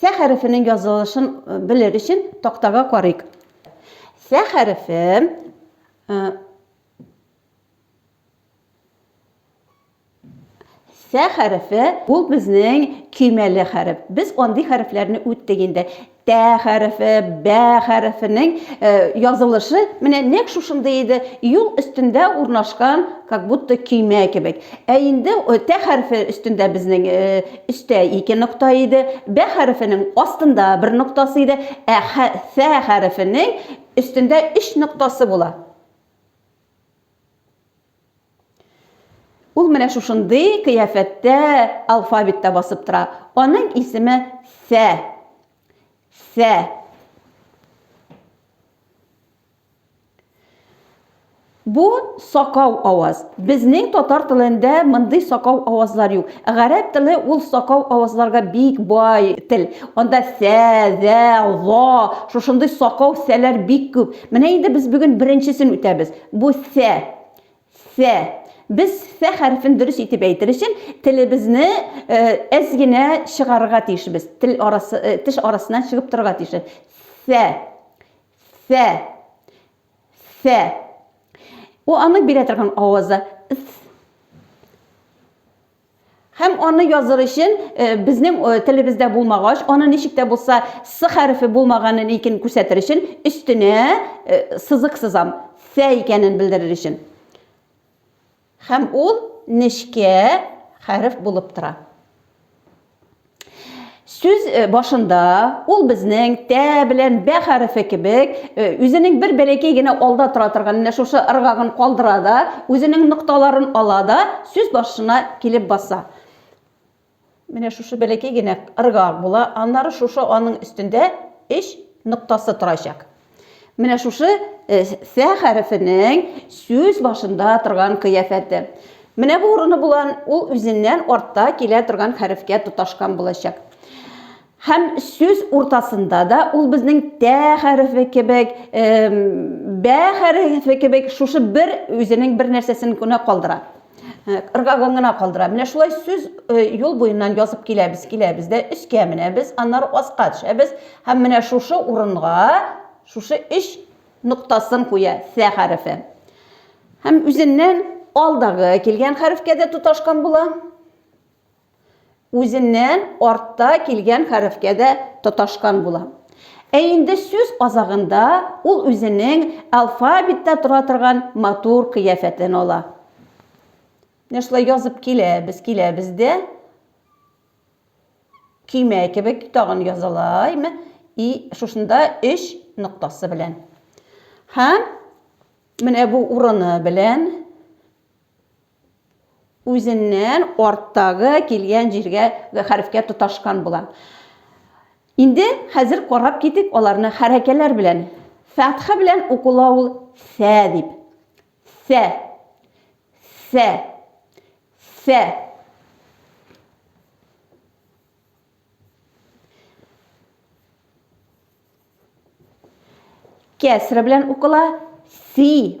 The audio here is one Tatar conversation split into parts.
Сә хәрефенең язылышын э, белер өчен тактага карыйк. Сә хәрефе э, Сә хәрефе ул безнең көймәле хәреф. Без андый хәрефләрне үттек инде. Тә хәрефе, бә хәрефенең э, язылышы менә нәкъ шушындый иде. Юл өстендә урнашкан, как будто көймә кебек. Ә инде тә хәрефе өстендә безнең э, Өстә ике нокта иде, бә хәрефенең астында бер ноктасы иде, ә хә, фә хәрефенең өстендә өч ноктасы була. Ул менә шушындый кыяфәттә алфавитта басып тора. Аның исеме фә. Фә. Бу сакау аваз. Безнең татар телендә мондый сакау авазлар юк. Гарәп теле ул сакау авазларга бик бай тел. Анда сә, зә, за, шушындый сакау сәләр бик күп. Менә инде без бүген беренчесен үтәбез. Бу сә. Сә. Без сә хәрефен дөрес итеп әйтер өчен телебезне әз генә чыгарырга тиешбез. Тел арасы, теш арасына чыгып торырга тиеш. Сә. Сә. Сә. Бу аны бирә торган авазы. Һәм аны языр өчен э, безнең э, телебездә булмагач, аны ничек тә булса с хәрефе булмаганын икән күрсәтер өчен өстенә э, сызык сызам. Сә икәнен белдерер өчен. Һәм ул нечкә хәреф булып тора. Сүз э, башында ул безнең тә белән бә хәрефе кебек э, үзенең бер бәләкәй генә алда тора торган менә шушы ыргагын калдыра да, үзенең нокталарын ала да, сүз башына килеп баса. Менә шушы бәләкәй генә ырга була, аннары шушы аның өстендә өч ноктасы торачак. Менә шушы сә хәрефенең сүз башында торган кыяфәте. Менә бу урыны булан, ул үзеннән артта килә торган хәрефкә тоташкан булачак. Һәм сүз уртасында да ул безнең тә хәрефе кебек, бә хәрефе кебек шушы бер үзенең бер нәрсәсен генә калдыра. Ыргагын гына калдыра. Менә шулай сүз юл буеннан язып киләбез, киләбез дә өскә менәбез, аннары аска төшәбез һәм менә шушы урынга шушы өч ноктасын куя сә хәрефе. Һәм үзеннән алдагы килгән хәрефкә дә тоташкан була. үзеннән артта килгән хәрефкә дә тоташкан була. Ә инде сүз азагында ул үзенең алфавиттә тора торган матур кыяфәтен ала. Менә шулай язып киләбез, киләбез дә, көймә кебек тагын язалаймы, и шушында өч ноктасы белән. Һәм менә бу урыны белән үзеннән арттагы килгән җиргә хәрефкә тоташкан була. Инде хәзер карап китик аларны хәрәкәләр белән. Фәтха белән укыла ул сә дип. Сә. Сә. Сә. Кәсре белән укыла си.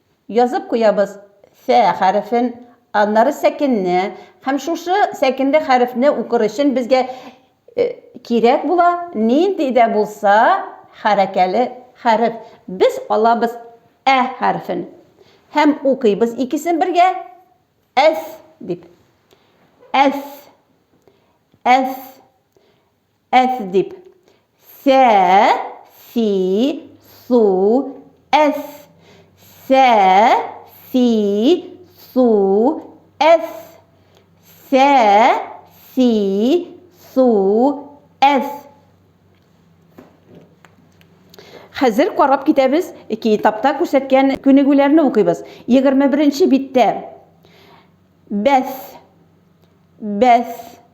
Язып куябыз Фә хәрефен, аннары сәкенне һәм шушы сәкенле хәрефне укыр өчен безгә кирәк була нинди дә булса хәрәкәле хәреф. Без алабыз Ә хәрефен һәм укыйбыз икесен бергә Әс дип. Әс. Әс. Әс дип. Сә, си, су, әс. Сә, си, су, әс. Сә, си, су, әс. Хәзер карап китәбез, китапта күрсәткән күнегүләрне укыйбыз. 21 нче биттә бәс, бәс,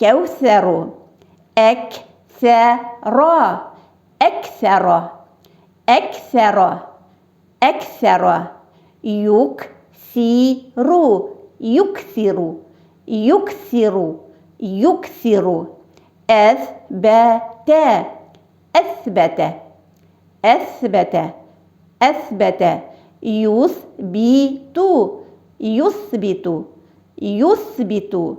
Кәүсәру. Әк-сә-ра. Әк-сә-ра. Әк-сә-ра. Әк-сә-ра. Юк-си-ру. Юк-си-ру. Юк-си-ру. Юк-си-ру. Әс-бә-тә. Әс-бә-тә. Әс-бә-тә. Әс-бә-тә. Юс-би-ту. Юс-би-ту. Юс-би-ту.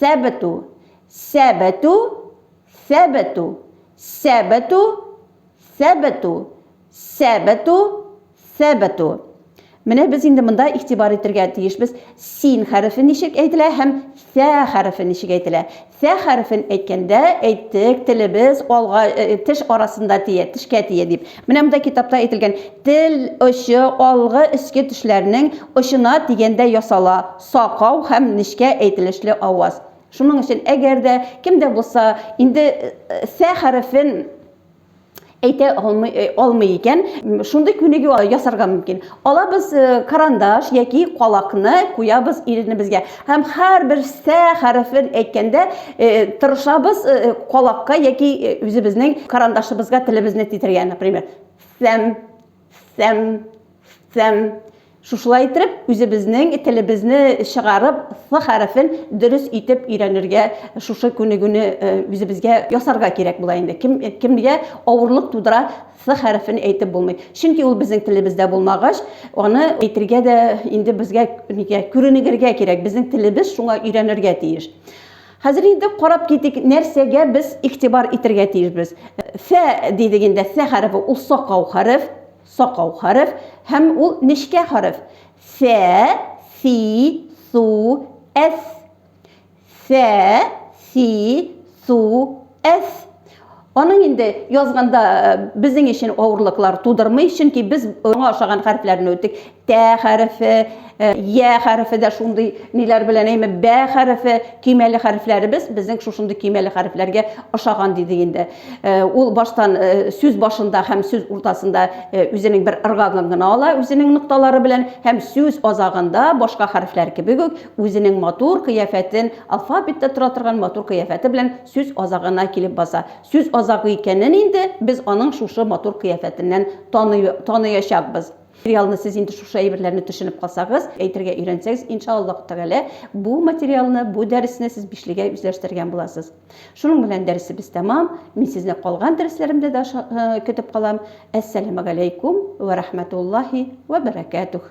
Сәбету. Сәбету. Сәбету. Сәбету. Сәбету. Сәбету. Сәбету. Менә без инде монда игътибар итергә тиешбез. Син хәрефе ничек әйтелә һәм сә хәрефе ничек әйтелә? Сә хәрефен әйткәндә, әйттек, телебез алга, теш арасында тия, тешкә тия дип. Менә монда китапта әйтелгән, тел очы алгы өске тешләрнең очына дигәндә ясала. Сакау һәм нечкә әйтелешле аваз. Шуның өчен әгәр дә кем дә булса инде сә хәрефен әйтә алмый, э, алмый икән, шундый күнегү ясарга мөмкин. Алабыз э, карандаш яки калакны куябыз иренебезгә һәм һәрбер сә хәрефен әйткәндә э, тырышабыз калакка яки үзебезнең карандашыбызга телебезне титергә, например, сәм Сэм, сэм. Шушылай итеп, үзебезнең телебезне чыгарып, сы хәрефен дөрес итеп өйрәнергә, шушы күнегүне э, үзебезгә ясарга кирәк була инде. Кем, кемгә авырлык тудыра сы хәрефен әйтеп булмый. Чөнки ул безнең телебездә булмагач, аны әйтергә дә инде безгә күренегергә кирәк. Безнең телебез шуңа өйрәнергә тиеш. Хәзер инде карап китик, нәрсәгә без игътибар итергә тиешбез. Фә дидек инде, фә хәрефе, ул сакау хәреф, сакау хәреф, һәм ул нечкә хәреф. Фә, фи, су, әс. Фә, фи, су, әс. Аның инде язганда безнең өчен авырлыклар тудырмый, чөнки без аңа ошаган хәрефләрне үттек. Тә хәрефе, я хәрефе дә шундый ниләр белән әйме, бә хәрефе, көймәле хәрефләребез безнең шушындый көймәле хәрефләргә ошаган диде инде. Ул баштан сүз башында һәм сүз уртасында үзенең бер ыргагын гына ала, үзенең нокталары белән һәм сүз азагында башка хәрефләр кебек үк үзенең матур кыяфәтен, алфавитта тора торган матур кыяфәте белән сүз азагына килеп баса. Сүз азагы икәнен инде без аның шушы матур кыяфәтеннән таный, таныячакбыз. Материалны сез инде шушы әйберләрне төшенеп калсагыз, әйтергә өйрәнсәгез, иншаАллаһу тәгалә, бу материалны, бу дәресне сез бишлегә үзләштергән буласыз. Шуның белән дәресебез тәмам. Мин сезне калган дәресләремдә дә көтеп калам. Әссәламәгаләйкүм вә рәхмәтуллаһи вә бәрәкәтүһ.